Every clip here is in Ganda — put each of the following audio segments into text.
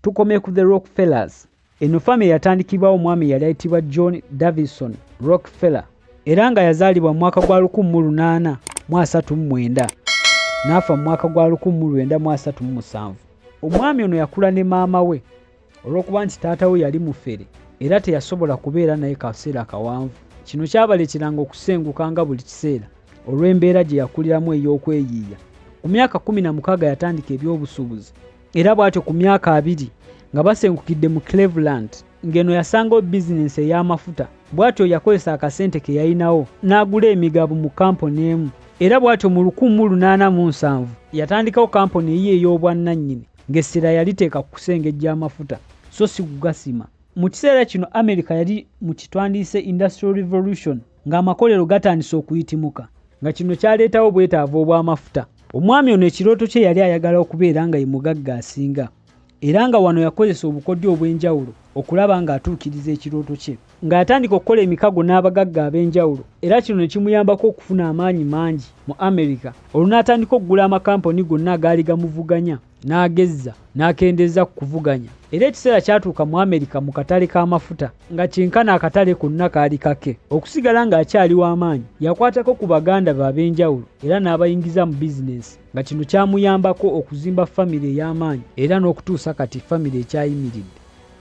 Tukome ku the Rockfellas. Eno famire yatandikibwawo omwami eyali ayitibwa John Davison Rockfeller era nga yazaalibwa mu mwaka gwa 1839 n'afa mu mwaka gwa 1937. Omwami ono yakula ne maama we olw'okuba nti taata we yali mufere era teyasobola kubeera naye kaseera kawanvu. Kino kyabaleeteranga okusenguka nga buli kiseera olw'embeera gye yakuliramu ey'okweyiiya. Ku myaka 16 yatandika eby'obusuubuzi. era bw'atyo ku myaka abiri nga basengukidde mu cleveland ng'eno yasangawo bizinensi ey'amafuta bw'atyo yakozesa akasente ke yalinawo n'agula emigabo mu kampuni emu era bw'atyo mu 1807 yatandikawo kampuni eyiyo ey'obwannannyini ng'essira yaliteeka ku kusengejja amafuta so si kugasima mu kiseera kino amerika yali mu kitwandiise industrial revolution ng'amakolero gatandise okuyitimuka nga kino kyaleetawo obwetaavu obw'amafuta. Omwami ono ekirooto kye yali ayagala okubeera nga ye mugagga asinga era nga wano yakozesa obukodyo obw'enjawulo okulaba ng'atuukiriza ekirooto kye nga yatandika okukola emikago n'abagagga ab'enjawulo era kino ne kimuyambako okufuna amaanyi mangi mu Amerika olwo n'atandika okugula amakampuni gonna agaali gamuvuganya. n'agezza n'akendeeza ku kuvuganya era ekiseera kyatuuka mu amerika mu katale k'amafuta nga kyenkana akatale konna kaali kake okusigala ng'akyali w'amaanyi yakwatako ku baganda be ab'enjawulo era n'abayingiza mu bizinensi nga kino kyamuyambako okuzimba famire ey'amaanyi era n'okutuusa kati famire ekyayimiridde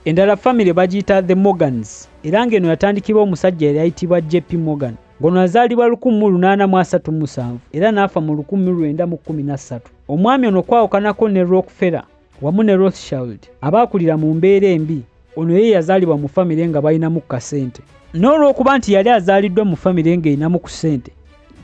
endala famire bagiyita the morgans era ng'eno yatandikibwa omusajja yali ayitibwa jp morgan ngono azaalibwa 1837 era n'afa mu 1913 omwami ono okwawukanako ne rockfella wamu ne rothshild abaakulira mu mbeera embi ono ye yazaalibwa mu famire nga balinamu kasente n'olw'okuba nti yali azaaliddwa mu famire ng'erinamu ku ssente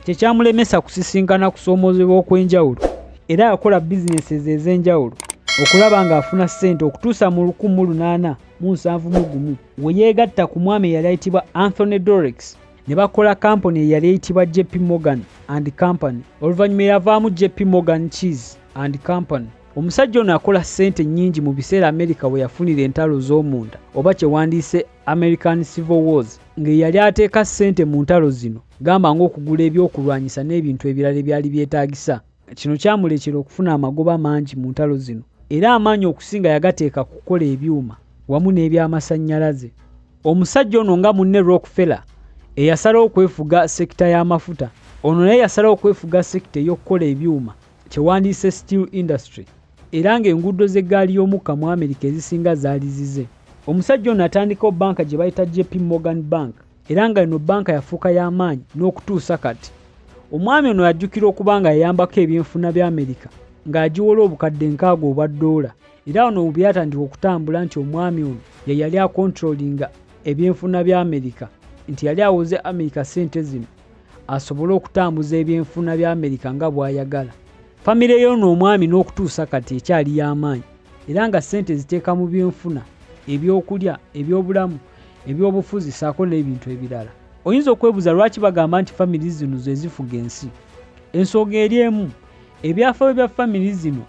kyekyamulemesa kusisinkana kusoomoozebwa okw'enjawulo era yakola bizinesi ezo ez'enjawulo okulaba ng'afuna ssente okutuusa mu 1871 we yeegatta ku mwami eyali ayitibwa anthony dorex ne bakola kampuni eyali eyitibwa jp morgan and company oluvannyuma eyavaamu jp morgan cheese and company omusajja ono akola ssente nnyingi mu biseera amerika we yafunira entalo z'omunda oba kye wandiise american civil wars ng'eyali ateeka ssente mu ntalo zino gamba ng'okugula ebyokulwanyisa n'ebintu ebirala ebyali byetaagisa Kino kyamuleetera okufuna amagoba mangi mu ntalo zino era amaanyi okusinga yagateeka ku kukola ebyuma wamu n'ebyamasannyalaze. Omusajja ono nga munne Rockefeller eyasalawo okwefuga sekita y'amafuta, ono naye yasalawo okwefuga sekita ey'okukola ebyuma kye wandiyise steel industry era ng'enguudo z'eggaali y'omukka mu Amerika ezisinga zaali zize. Omusajja ono atandikawo bbanka gye bayita JP Morgan Bank. era nga eno bbanka yafuuka y'amaanyi n'okutuusa kati. Omwami ono ajjukira okuba nga yayambako ebyenfuna bya Amerika ng'agiwola obukadde nkaaga obwa ddoola era wano we byatandika okutambula nti omwami ono ye yali akontrolinga ebyenfuna bya Amerika nti yali awoze Amerika ssente zino asobole okutambuza ebyenfuna bya Amerika nga bw'ayagala. Famire y'ono omwami n'okutuusa kati ekyali y'amaanyi era nga ssente eziteeka mu byenfuna, ebyokulya, ebyobulamu, ebyobufuzi saako n'ebintu ebirala. Oyinza okwebuza lwaki bagamba nti family zino zezifuga ensi. Ensooga eri emu, ebyafayo bya family zino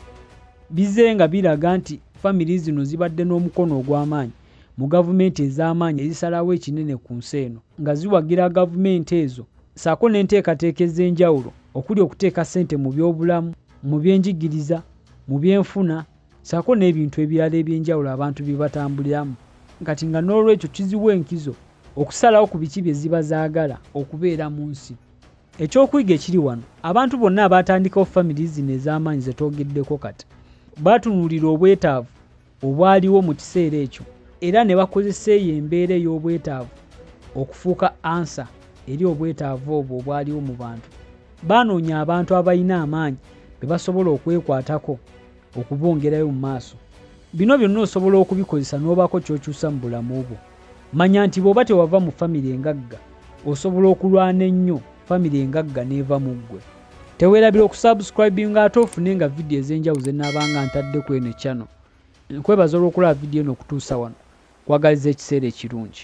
bize nga biraga nti family zino zibadde n'omukono ogw'amaanyi mu gavumenti ez'amaanyi ezisalawo ekinene ku nsi eno nga ziwagira gavumenti ezo saako n'enteekateeka ez'enjawulo okuli okuteeka ssente mu byobulamu, mu byenjigiriza, mu byenfuna saako n'ebintu ebirala eby'enjawulo abantu bye batambuliramu kati nga n'olwekyo kiziwa enkizo okusalawo ku biki bye ziba zaagala okubeera mu nsi. Ekyokuyiga ekiri wano, abantu bonna abaatandikawo famire zino ez'amaanyi ze twogeddeko kati, baatunuulira obwetaavu obwaliwo mu kiseera ekyo era ne bakozesa eyo embeera ey'obwetaavu okufuuka ansa eri obwetaavu obwo obwaliwo mu bantu. Baanoonya abantu abalina amaanyi be basobola okwekwatako. okubongerayo mu maaso. Bino byonna osobola okubikozesa n'obaako ky'okyusa mu bulamu bwo. Manya nti bw'oba tewava mu famire engagga, osobola okulwana ennyo famire engagga n'eva mu ggwe. Teweerabira okusubscribinga ate ofune nga vidiyo ez'enjawulo ze nnaabanga ntadde ku eno channel. Nkwebaza olw'okulaba vidiyo eno okutuusa wano. Nkwagaliza ekiseera ekirungi.